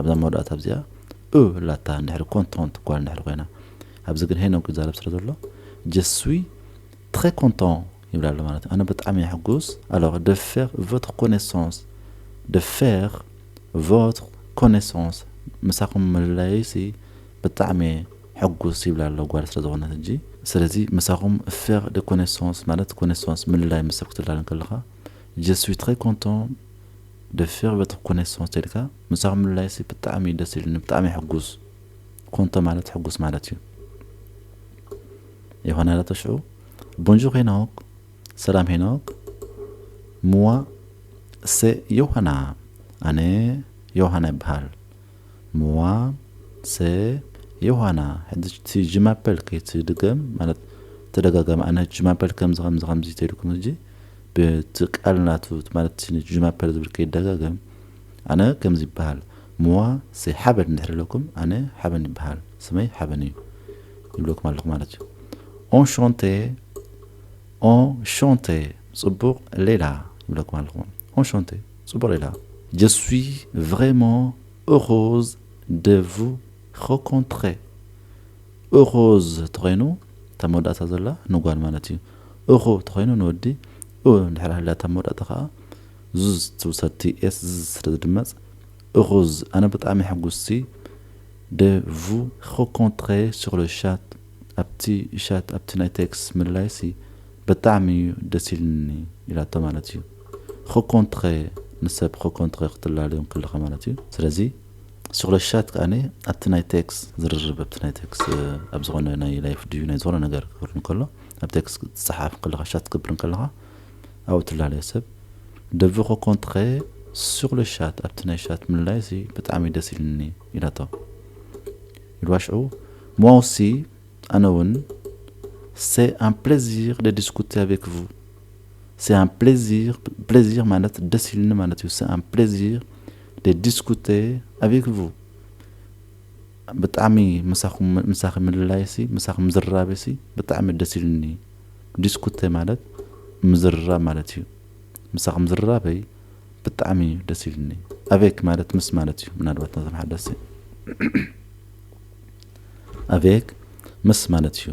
ኣብዛ መወዳእታ እዚኣ እ ላታ እንድሕሪ ኮንቶንት ጓል እንድሕሪ ኮይና ኣብዚ ግን ሄኖግ ይዛረብ ስለ ዘሎ ጀስዊ ትረ ኮንቶን ይብል ኣሎ ማለት ኣነ ብጣዕሚ እየ ሕጉስ ኣሎር ደ ፌር ቮትር ኮኔሶንስ ደ ፌር ቮትር ኮኔሶንስ ምሳኹም ምልላዩሲ ብጣዕሚ እየ ሕጉስ ይብል ኣሎ ጓል ስለ ዝኾነት ሕጂ ስለዚ ምሳኹም ፌር ደ ኮኔሶንስ ማለት ኮኔሶንስ ምልላይ ምሰብ ክትላለን ከለኻ ጀስዊ ትረ ኮንቶን ደፊር በቲ ኮኔሶ ተልካ ምሳኹም ምልላይሲ ብጣዕሚ እዩ ደስ ኢሉኒ ብጣዕሚ ሕጉስ ኮንቶ ማለት ሕጉስ ማለት እዩ ይኾና ላቶ ሽዑ ቦንጆር ሄኖክ ሰላም ሄኖክ ምዋ ሰ ዮሃና ኣነ ዮሃና ይበሃል ምዋ ሰ ዮሃና ሕጂ እቲ ጅማፐል ከይትድገም ማለት ተደጋጋሚ ኣነ ጅማፐል ከምዚ ከምዚ ከምዚ ተልኩም ሕጂ ብቲ ቃል ናቱ እቲ ማለት እቲ ንጁማፐር ዝብል ከይዳጋገም ኣነ ከምዚ ይባሃል ምዋ ሰይ ሓበን እንድሕር ኢለኩም ኣነ ሓበን ይባሃል ስመይ ሓበን እዩ ይብለኩም ኣለኩ ማለት እዩ ኦንሾንቴ ኦንሾንቴ ጽቡቅ ሌላ ይብለኩም ኣለኩ ኦንሾንቴ ጽቡቅ ሌላ Je suis vraiment heureuse de vous rencontrer heureuse ተኮይኑ እታ መወዳእታ ዘላ ንጓል ማለት እዩ እኹ ተኾይኑ ንወዲ እው እንድሕር ሃልያ እታ መወዳእታ ከኣ ዙዝ ትብል ሰብ TS ዝዝ ስለ ዝድመጽ እኹዝ ኣነ ብጣዕሚ ሕጉስቲ de vous recontrer sur le chat ኣብቲ ሻት ኣብቲ ናይ ቴክስ ምልላይሲ ብጣዕሚ እዩ ደስ ኢልኒ ኢላቶ ማለት እዩ recontrer ንሰብ recontrer ክትላልዮም ከለኻ ማለት እዩ ስለዚ ስክረሻት ከኣ ኣብቲ ናይ ቴክስ ዝርርብ ኣብቲ ናይ ቴክስ ኣብ ዝኾነ ናይ ላይፍ ድዩ ናይ ዝኾነ ነገር ክብር እንከሎ ኣብ ቴክስ ዝጸሓፍ ከለኻ ሻት ክብር እንከለኻ ኣብኡ ትላለየ ሰብ ደብኾ ኮንትኸ ሱቕለ ሻት ኣብቲ ናይ ሻት ምልላይሲ ብጣዕሚ ደስ ኢልኒ ኢላቶ ኢልዋ ሽዑ ሞሲ ኣነ እውን ሴ ኣን ፕሌዚር ደ ዲስኩቴ ኣቬክ ቭ ሴ ኣን ፕሌዚር ፕሌዚር ማለት ደስ ኢልኒ ማለት እዩ ሴ ኣን ፕሌዚር de discuter avec vous ብጣዕሚ ምሳኹም ምሳኺ ምልላይሲ ምሳኺ ምዝርራብሲ ብጣዕሚ ደስ ኢሉኒ ዲስኩተ ማለት ምዝርራብ ማለት እዩ ምሳኺ ምዝርራበይ ብጣዕሚ እዩ ደስ ኢሉኒ ኣቬክ ማለት ምስ ማለት እዩ ምናልባት ነዞም ሓደስቲ ኣቬክ ምስ ማለት እዩ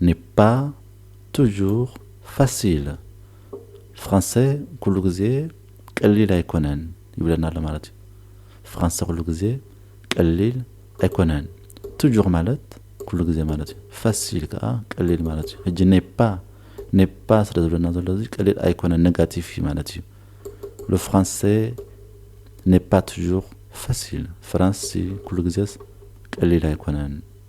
n'est pas toujours facile ፍራንሰ ኩሉ ግዜ ቀሊል ኣይኮነን ይብለና ኣሎ ማለት እዩ ፍራንሰ ኩሉ ግዜ ቀሊል ኣይኮነን ቱጁር ማለት ኩሉ ግዜ ማለት እዩ ፋሲል ከዓ ቀሊል ማለት እዩ ሕጂ ኔፓ ኔፓ ስለ ዝብለና ዘሎ እዚ ቀሊል ኣይኮነን ኔጋቲቭ እዩ ማለት እዩ ሎ ፍራንሰ ኔፓ ቱጁር ፋሲል ፍራንሲ ኩሉ ግዜስ ቀሊል ኣይኮነን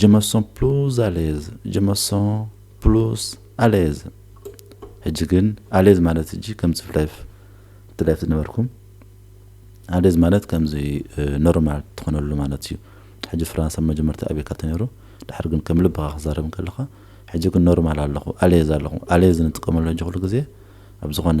Je me sens plus à l'aise Je me sens plus à l'aise ሕጂ ግን ኣሌዝ ማለት ሕጂ ከም ጽፍ ላይፍ እቲ ላይፍ ዝነበርኩም ኣሌዝ ማለት ከምዚ ኖርማል ትኾነሉ ማለት እዩ ሕጂ ፍራንስ ኣብ መጀመርታ ኣበይ ካብቲ ነይሩ ድሕር ግን ከም ልብኻ ክዛረብ ከለኻ ሕጂ ግን ኖርማል ኣለኹ ኣሌዝ ኣለኹ ኣሌዝ ንጥቀመሉ ሕጂ ኩሉ ግዜ ኣብ ዝኾነ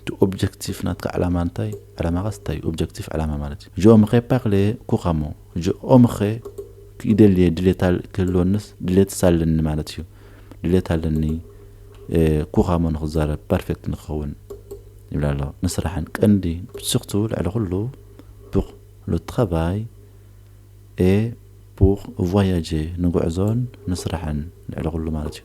እቲ ኦብጀክቲፍ ናትካ ዕላማ እንታይ ዕላማኻስ እንታይ እዩ ኦብጀክቲፍ ዕላማ ማለት እዩ ጆ ምኸ ፓክለየ ኩኻሞ ጆ ኦምኸ ክኢደልየ ድሌት ክህልወንስ ድሌትስ ኣለኒ ማለት እዩ ድሌት ኣለኒ ኩኻሞ ንክዛረብ ፐርፌክት ንክኸውን ይብላ ኣሎ ንስራሕን ቀንዲ ብስኽቱ ልዕሊ ኩሉ ቡቕ ሉትኸባይ ኤ ቡቕ ቫያጀ ንጉዕዞን ንስራሕን ልዕሊ ኩሉ ማለት እዩ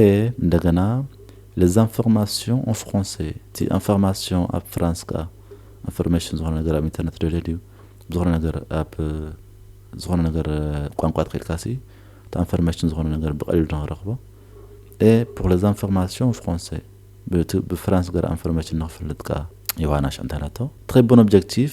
ኤህ እንደገና les informations en français እቲ information ኣብ ፍራንስ ከኣ ኢንፎርሜሽን ዝኾነ ነገር ኣብ ኢንተርነት ደልዮ ድዩ ዝኾነ ነገር ኣብ ዝኾነ ነገር ቋንቋ ተኸኢልካሲ እቲ ኢንፎርሜሽን ዝኾነ ነገር ብቐሊሉ ንኽረኽቦ ኤ ፖር les informations en français ብፍራንስ ገር ኢንፎርሜሽን ንኽፈልጥ ከኣ ዮሃና ሽዕንታናቶ ትኸይ ቦን ኦብጀክቲቭ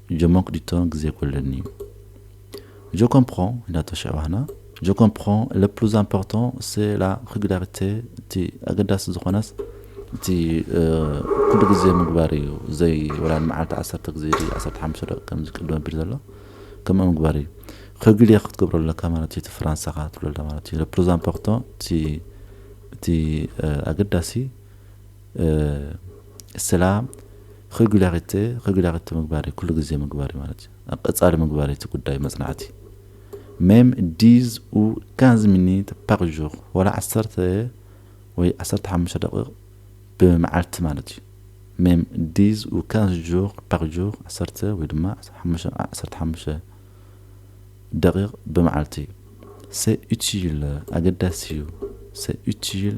Je manque du temps ግዜ ጎለኒ እዩ Je comprends ኢና ተሸባህና Je comprends le plus important c'est la régularité እቲ ኣገዳሲ ዝኾነስ እቲ ኩሉ ግዜ ምግባር እዩ ዘይ ወላ ንመዓልቲ ዓሰርተ ግዜ ድዩ ዓሰርተ ሓሙሽተ ደቂቕ ከምዚ ቅድም ኣቢሉ ዘሎ ከምኡ ምግባር እዩ ሬጉሊየር ክትገብሮ ኣለካ ማለት እዩ እቲ ፍራንሳኻ ትብሎ ኣላ ማለት እዩ le plus important እቲ እቲ ኣገዳሲ እስላም ኽግለክቲ ኽግለክቲ ምግባር እዩ ኩሉ ግዜ ምግባር እዩ ማለት እዩ ኣብ ቀጻሊ ምግባር እዩ እቲ ጉዳይ መጽናዕቲ ሜም ዲዝ ኡ ካንዝ ሚኒት ፓር ዡር ዋላ ዓሰርተ ወይ ዓሰርተ ሓሙሽተ ደቂቕ ብመዓልቲ ማለት እዩ ሜም ዲዝ ኡ ካንዝ ዡር ፓር ዡር ዓሰርተ ወይ ድማ ዓሰርተ ሓሙሽተ ደቂቕ ብመዓልቲ እዩ ሴ ኡቲል ኣገዳሲ እዩ ሴ ኡቲል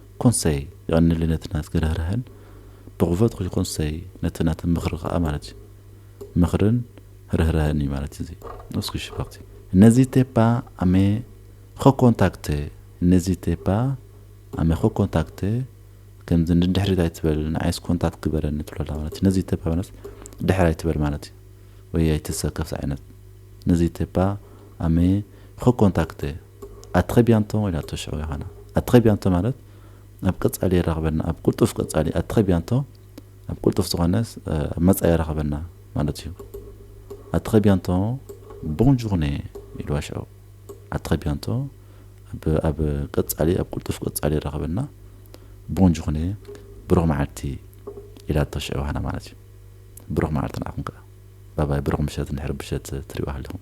ኮንሰይ የቀንየለይ ነቲ ናትኪ ርህራሀን ብክፈትኪ ኮንሰይ ነቲ ናቲ ምክሪ ከኣ ማለት እዩ ምክርን ርህራሀን እዩ ማለት እዚ እስኪ ሽፈክቲ ነዚቴ ፓ ኣሜ ኸኮንታክተ ነዚቴ ፓ ኣሜ ኸኮንታክተ ከምዚ ንድሕሪት ኣይትበል ንዓይስ ኮንታክት ግበረኒ ትብሎ ኣላ ማለት እዩ ነዚቴ ፓ ማለት ድሕር ኣይትበል ማለት እዩ ወይ ኣይትሰከፍ ዝዓይነት ነዚቴ ፓ ኣሜ ኸኮንታክተ ኣትረቢያንቶ ኢላቶ ሽዑ ዮሃና ኣትረቢያንቶ ማለት ኣብ ቀጻሊ የራኽበና ኣብ ቁልጡፍ ቀጻሊ ኣትረቢያንቶ ኣብ ቁልጡፍ ዝኾነ ኣብ መጻኢ የራኽበና ማለት እዩ ኣትረቢያንቶ ቦን ዡርኔ ኢልዋ ሽዑ ኣትረቢያንቶ ኣብ ኣብ ቀጻሊ ኣብ ቁልጡፍ ቀጻሊ የራኽበና ቦን ዡርኔ ብሩኽ መዓልቲ ኢላቶ ሽዑ ዮሃና ማለት እዩ ብሩኽ መዓልቲ ንዓኹም ከኣ ባባይ ብሩኽ ምሸት እንድሕር ብሸት ትሪእዋ ሃሊኹም።